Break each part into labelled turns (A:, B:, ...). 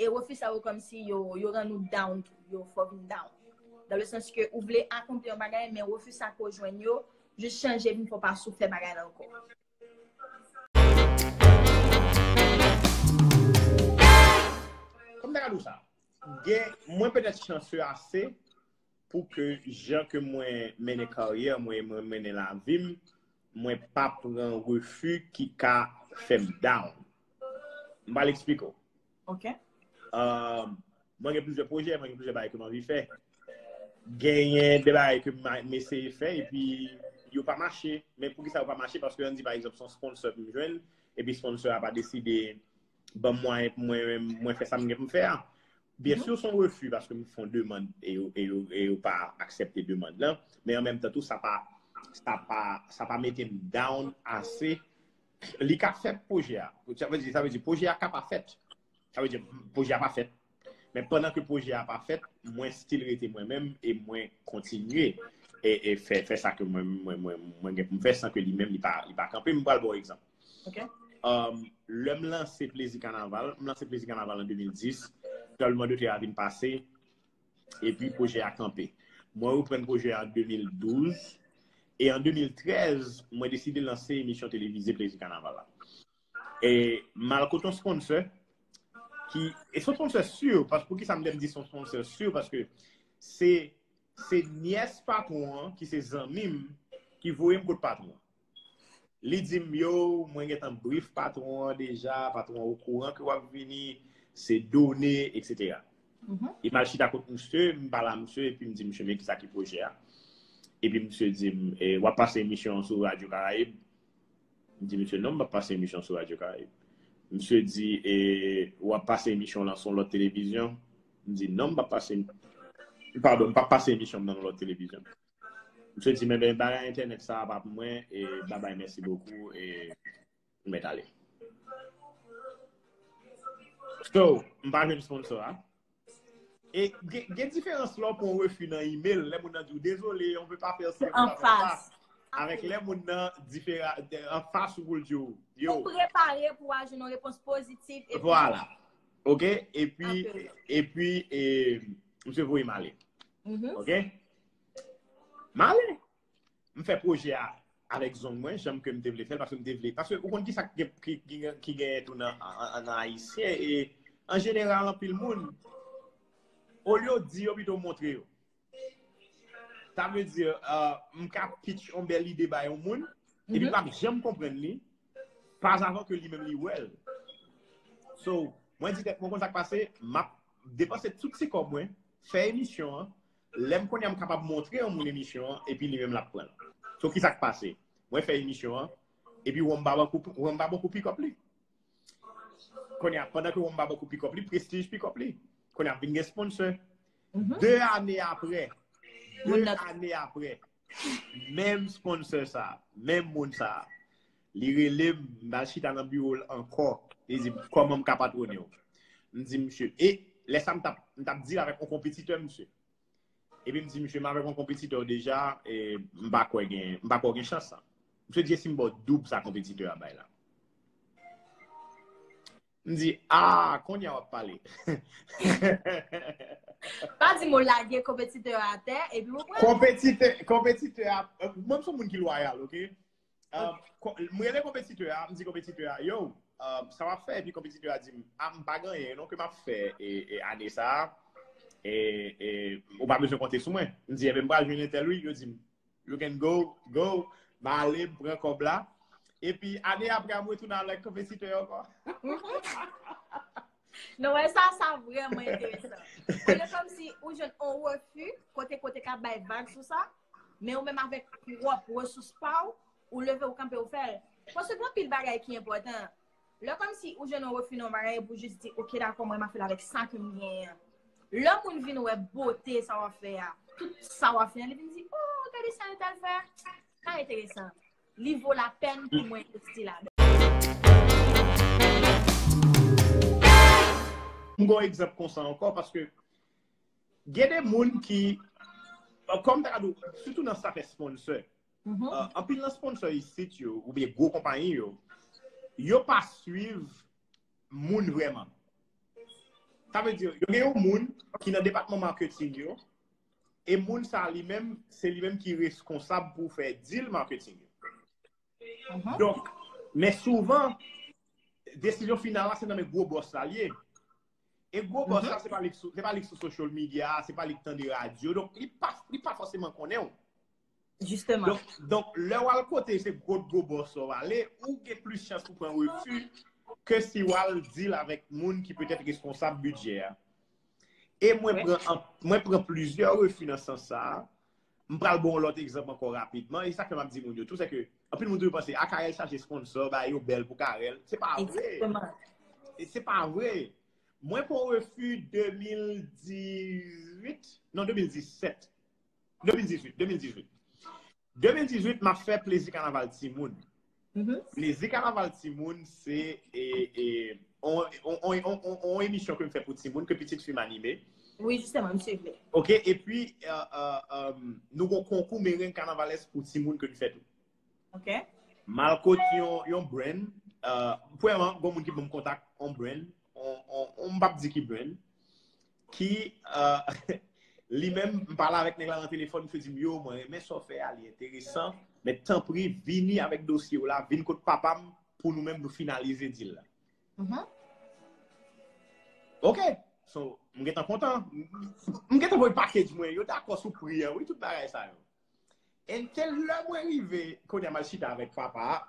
A: E refi sa yo kòmsi yo rann ou down tou. Yo fè w vin down. Dan le sans ke ou vle akonpli yon bagay men refi sa ke w jwenn yo jis chanje vin fè w pa sou fè bagay la ankò.
B: Kòman m ta ka di w sa? Gen, mwen petèt chanseu ase pou ke jan ke mwen mennen karyè mwen e mwen mennen lavi m, mwen pa pran refi ki ka fè m down. M pral eksplike w. Ok. Mwen gen plizyè pwojè, mwen gen plizyè bagay ke m anvi fè. Genyen de bagay ke m eseye fè epi yo pa mache. Men poukisa yo pa mache? Paske an di pa egzanp se yon sponsò ke m jwenn, epi sponsò a pa deside ban m mwayen pou mwen fè sa m gen pou m fè a. Byen si w son refi paske m fon demand e yo pa aksepte demand lan, men an menm tan tou sa pa mete m down ase. Li ka fèt pwojè a. Sa vle di pwojè a ka pa fèt. Sa vle di pwojè a pa fèt. Men pandan ke pwojè a pa fèt, mwen stil rete mwen menm e mwen kontinye e fè sa ke mwen gen pou m fè san ke li menm li pa kanpe. M pral ba w egzanp.
A: Lè
B: m lanse Plezi Kanaval, m lanse Plezi Kanaval an 2010, Trableman de Tè a vin pase, epi pwojè a kanpe. Mwen reprann pwojè a an 2012, e an 2013, mwen deside lanse emisyon televize Plezi Kanaval la. E malko ton sponsor ki e son sponsor sur paske pou ki sa m dem di son sponsor sur paske se se nyès patron an ki se zanmi m ki voye m kot patron li di m yo mwen gentan brif patron an deja patron an okouran ke w ap vini se done etc e m al chita kot misye m pale a misye epi m di misye men kisa ki pwojè a epi misye di m w ap pase emisyon an sou radyo karayib M di misye non m pa p pase emisyon sou Radyo Karayib. Misye di e w ap pase emisyon w lan sou yon lòt televizyon? M di non m pa p pase padon m pa p pase emisyon m nan yon lòt televizyon. Misye di men men bagay entènèt sa a pa pou mwen e babay mèsi bokou e m mèt ale. So m pa jwenn sponsor a. Gen diferans lò pou refi nan email, lè moun nan di ou dezole, on pe pa fè sa. An fas.
A: Avèk lè moun
B: nan difera, an fas ou pou l di ou. Ou prepare
A: pou a jounon repons pozitif. Vwala.
B: Ok? E pi, e pi, e, mse voye male. Ok? Male. m fè pwojè a avèk zong mwen, janm ke m te vle fè l, paske m te vle, paske ou konn ki sa ki genyen tou nan ayisyen, e an jeneral anpil moun, olye yo di yo pito yo montre yo. Sa vle di, m ka pitch yon bèl ide ba yon moun, epi l pap janm konprann li, pas avan ke li menm li wè l. So, mwen di tèt mwen konn sa k pase, m ap depanse tout ti kòb mwen, fè emisyon an, Lèm konnen m kapab montre yon moun emisyon an epi li menm lap pran l. So kisak pase? Mwen fè emisyon an epi Wom pa ban kou pikòp li. Kounye a pandan ke Wom pa ban kou pikòp li, Prestige pikòp li. Kounye a ap vin gen sponsè. 2 ane aprè, 2 ane aprè. Menm sponsor sa, menm moun sa, li rele m, m al chita nan biwo l ankò, li di m, kòman m ka patwone w? M di misye, e, lè sa m tap, m tap dil avèk yon konpetitè m misye. Epi m di misye, m avèk yon konpetitè w deja, e, m pa kwè gen, m pa kwè w gen chans sa. Misye di, e si m ba w doub sa konpetitè a bay la? M di, ah, konya w ap pale.
A: Pa di m ou lage konpetitè a atè, epi ou pran. Konpetitè,
B: konpetitè a, mwen m son moun ki lwayal, ok? M rele konpetitè a, m di konpetitè a, yo, sa w ap fè? Epi konpetitè a di m, ah, m pa gen anyen non ke m ap fè ane sa a, e ou pa bezwen konte sou mwen. M di, enben m pral jwenn entèl wi, yo di m, You can go, go. M a ale, m pran kòb la. E pi ane apre a m retounen avèk konpesitè yo ankò.
A: Nou wè sa, sa vreman enteresan. Ou gen kòm si ou jwenn on refi, kote kote ka bay vag sou sa, men ou menm avèk pwòp resous pa ou, ou leve ou kanpe ou fè l. Paske gen anpil bagay ki enpòtan. Lè kòmsi ou jwenn yon refi nan yon bagay epi ou jis di ok dakò mwen mafèl avèk sa kem genyen an. Lè moun vin wè bote sa wap fè a, tout sa wap fè a li vin di oh gade sa untal fè a, sa enteresan. Li vo lapèn pou mwen envesti ladan.
B: M gen yon egzanp konsa ankò paske gen de moun ki, kòm ta ka di w, sitou nan sa fè sponsor. Anpil nan sponsor isit yo, ou bie gwo kompanyi yo, yo pa swiv moun vreman. Sa ve di, yo gen yon moun ki nan depatman marketing yo, e moun sa li menm, se li menm ki reskonsab pou fè deal marketing yo. Donk, men souvan, desizyon final la se nan men gwo boss la liye. E gwo boss la, se pa li ki sou social media, se pa li ki tande radio, donk li pa foseman konnen ou. Jisteman.
A: Donk, lè
B: w al kote se gwo gwo bòs ou ale, ou gen plis chans pou pran refi ke si w al dil avèk moun ki petèt responsab bidjè a. E mwen pran plizyè refi nan sans sa a. M pral bon lòt egzanp ankò rapidman. E sa ke m ap di moun yo tou, se ke anpil moun toujou panse, a Carel chache sponsò, bagay yo bèl pou Carel. Se pa vre. Jisteman. Se pa vre. Mwen pran refi 2018, non 2017. 2018, 2018. 2018, m ap fè plezi kanaval timoun. Plezi kanaval timoun, se yon emisyon ke m fè pou timoun, ke pitit fi m anime. Wi, jistèman, m
A: swiv li. Ok, e pi,
B: nou gon konkou mereng kanavalès pou timoun ke n fè tou. Ok.
A: M al kot
B: yon brand, pwèman, gon moun ki banm kontak yon brand, m p ap di ki brand. Ki, li menm, m pale avèk nèg la nan telefòn, misye di m, yo, mwen renmen sa w fè a, li enteresan, men tanpri vini avèk dosye w la, vin kot papa m pou nou menm nou finalize deal la. Ok! So, m gentan kontan. M gentan voye package mwen, yo dakò sou pri an wi, tout bagay sa yo. And se lè mwen rive, kounye a m al chita avèk papa a,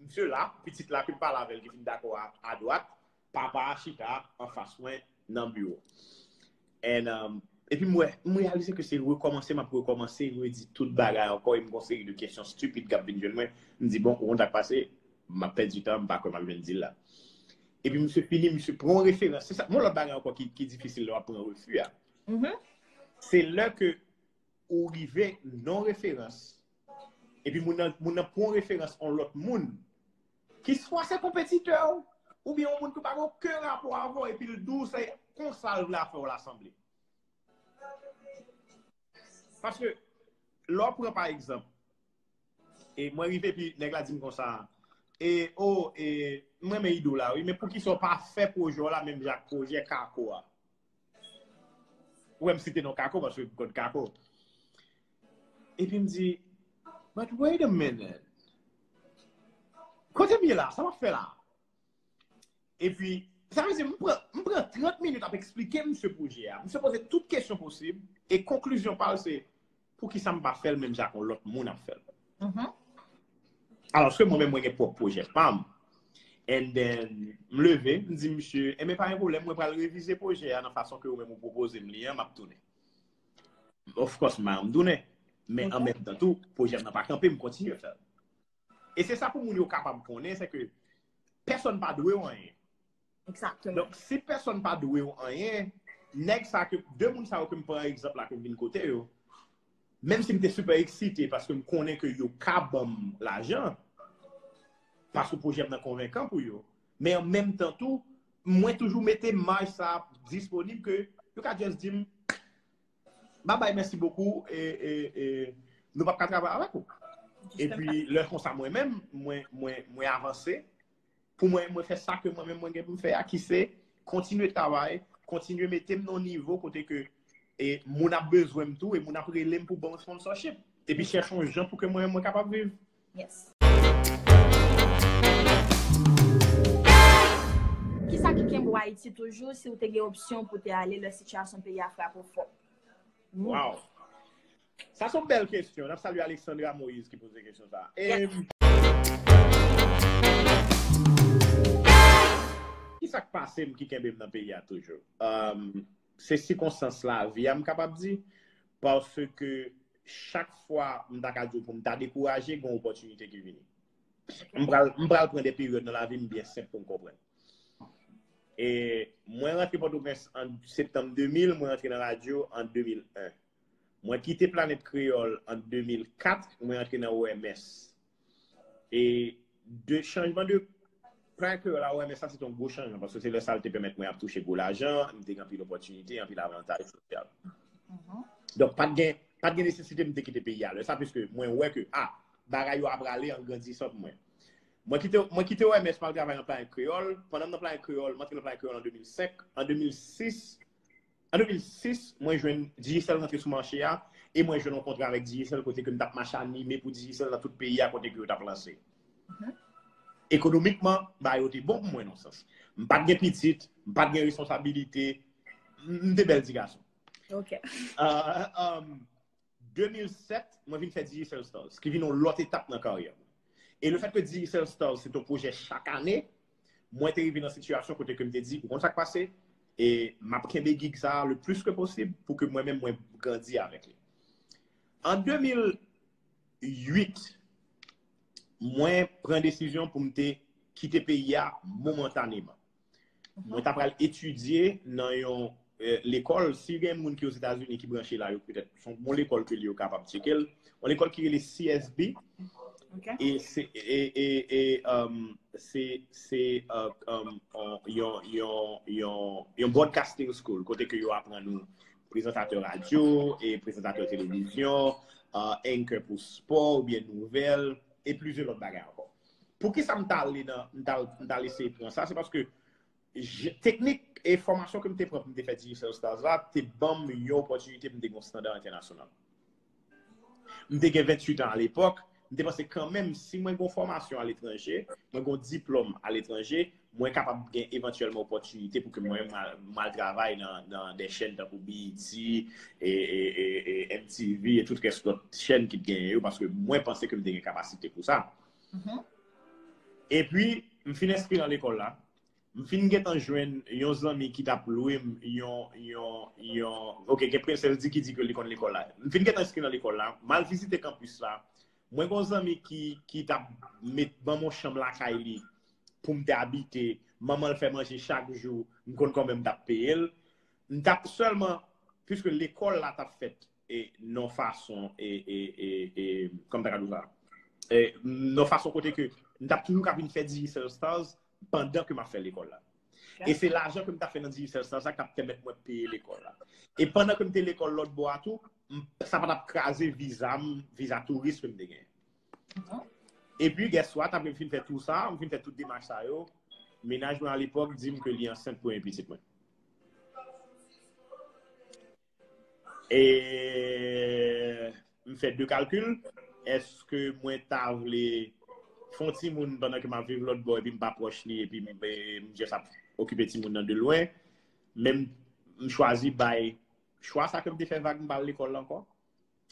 B: misye la, pitit la ke m pale avè l ki fin dakò a adwat, Papa a chita anfas mwen nan biwo. Epi m wè, m reyalize ke se rekòmanse m ap rekòmanse, redi tout bagay ankò, e m gen yon seri de kesyon stupid k ap vin jwenn mwen. M di, bon, ou konn sa k pase? M ap pèdi tan, m pa kwè m ap jwenn dil la. Epi misye fini, misye pran yon referans. Se sa, gen yon lòt bagay ankò ki difisil lè w ap pran refi a. Se lè ke ou rive nan referans, epi moun nan pran yon referans yon lòt moun. Ki swa se konpetitè w, oubyen yon moun ki pa gen oken rapò avè w epi l di w se konsa l vle afè w la sanble. Paske, lè w pran pa egzanp, e mwen rive epi nèg la di m konsa, e o, e m renmen ide w la wi, men poukisa w pa fè pwojè w la menm jan ak pwojè kako a? Ou wè m site non Kako paske m konn Kako. Epi m di, but wait a minute, kote m ye la, sa m ap fè la? Epi, sa vle di m pran, m pran 30 minit ap eksplike misye pwojè a. Misye poze tout kesyon posib, e konklizyon pa l se, poukisa m pa fè l menm jan ak yon lòt moun ap fè l? Alòske mwen menm mwen gen pwòp pwojè pa m. And then, m leve, m di misye, enben pa gen pwoblèm, mwen pral revize pwojè a nan fason ke ou menm ou pwopoze m li an, m ap tounen. Of course, m bay yon m tounen. Men an menm tan tou, pwojè m nan pa kanpe, m kontinye fè l. E se sa pou moun yo kapab konnen, se ke pèsòn pa dwe w anyen. Exactement. Donk
A: si pèsòn
B: pa dwe ou anyen, nèg sa ke, de moun sa yo ke m pran egzanp la ke m vin kote yo, menm si m te sipè eksite paske m konnen ke yo ka ban m lajan, paske pwojè m nan konvenkan pou yo, men an menm tan tou, mwen toujou mete maj sa disponib ke yo ka just di m, ba bay mèsi bokou, e nou pa p ka travay avèk ou. E pi lè konsa mwen menm, mwen avanse. Pou mwen, mwen fè sa ke mwen menm mwen gen pou m fè a ki se kontinye travay, kontinye mete m nan yon nivo kote ke e moun ap bezwen m tou e moun ap rele m pou ban m sponsorship. Epi chèche yon jan pou ke mwen menm mwen kapab viv. Yes.
A: Kisa ki kenbe w Ayiti toujou si w te gen opsyon pou te ale lè sitiyasyon peyi a frape w fò? Waww!
B: Sa son bèl kesyon. Nap salye Alexandra Moïse ki poze kesyon sa a. Kisa k pase m ki kenbe m nan peyi a toujou? Se sikonstans lavi a m kapab di. Paske chak fwa m ta ka di w pou m ta dekouraje, gen yon opòtinite ki vini. M pral pran de peryòd nan lavi m byen senp pou m konprann. Mwen rantre Pòtoprens an septanm 2000, mwen rantre nan radyo an 2001. Mwen kite Planèt Kreyòl an 2004, mwen antre nan OMS. E de chanjman de Planèt Kreyòl a OMS la se te yon gwo chanjman, paske se lè sa l te pèmèt mwen ap touche gwo lajan, m te gen anpil opòtinite, anpil avantaj sosyal. Donk pa t gen, pa t gen nesesite m te kite peyi a lè sa, piske mwen wè ke, a, bagay yo ap rale an grandisan pou mwen. Mwen kite, mwen kite OMS pou al travay nan Planèt Kreyòl. Pandan m nan Planèt Kreyòl, m antre nan Planèt Kreyòl an 2005. An 2006, An 2006, mwen jwenn Digicel rantre sou mache a, e mwen jwenn yon kontra avèk Digicel kote ke m tap mache anime pou Digicel nan tout peyi a kote ke yo tap lanse. Ekonomikman, bagay yo te bon pou mwen nan yon sans. M pat gen pitit, m pat gen responsabilite, m te bèl ti gason.
A: 2007,
B: mwen vin fè Digicel Stars, ki vin yon lòt etap nan karyè mwen. E le fèt ke Digicel Stars se te yon pwojè chak ane, mwen te rive nan sitiyasyon kote ke m te di, ou konn sa k pase, e m ap kenbe gig sa a le plis ke posib pou ke mwen menm mwen grandi avèk li. An 2008, mwen pran desizyon pou m te kite peyi a momantaneman. Mwen ta pral etidye nan yon lekòl, si gen moun ki Ozetazini ki branche la yo petèt, son bon lekòl ke li yo kapab tcheke l, yon lekòl ki rele CSB e se se yon broadcasting school kote ke yo aprann ou prezantatè radyo e prezantatè televizyon, anchor pou spò oubyen nouvèl e plizyè lòt bagay ankò. Poukisa m ta ale nan, m ta al eseye pran sa, se paske teknik e fòmasyon ke m te pran pou m te fè Digicel Stars la te ban m yon opòtinite pou m te gen yon standard entènasyonal. M te gen 28 an alepòk, m te panse kanmenm si mwen gen yon fòmasyon aletranje, mwen gen yon diplòm aletranje, mwen kapab gen evantyèlman opòtinite pou ke mwen m al travay nan de chèn tankou BET, MTV, e tout rès lòt chèn ki t genyen yo, paske mwen panse ke m te gen kapasite pou sa. E pi, m fin enskri nan lekòl la, m fin gen tan jwenn yon zanmi ki t ap lwe m yon, ok, gen prensèl di ki di ke li konn lekòl la. M fin gen tan enskri nan lekòl la, m al vizite kanpis la, Mwen gen yon zanmi ki t ap met ban m yon chanm lakay li pou m te abite. Manman l fè manje chak jou. M konn kòman m t ap peye l. M t ap sèlman, piske lekòl la t ap fèt yon fason, kòman m ta ka di w sa? Yon fason kote ke m t ap toujou ka vin fè Digicel Stars pandan ke m ap fè lekòl la. E se lajan ke m t ap fè nan Digicel Stars la k t ap pèmèt mwen peye lekòl la. E pandan ke m te lekòl lòtbò a tou, Sa pa tap kraze viza m, viza touris ke m te gen. E pi guess what, apre m fin fè tou sa, m fin fè tout demach sa yo, menaj mwen alepòk di m ke li ansent premye pitit mwen. E m fè 2 kalkil, eske mwen ta vle fè yon timoun pandan ke m ap viv lòtbò epi m pa pwòch li epi m just ap okipe timoun nan de lwen, men m chwazi bay Chwa sa ke m te fè vag m pa al lekòl la ankò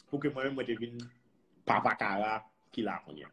B: pou ke mwen menm mwen te vin papa kara ki la kounye a.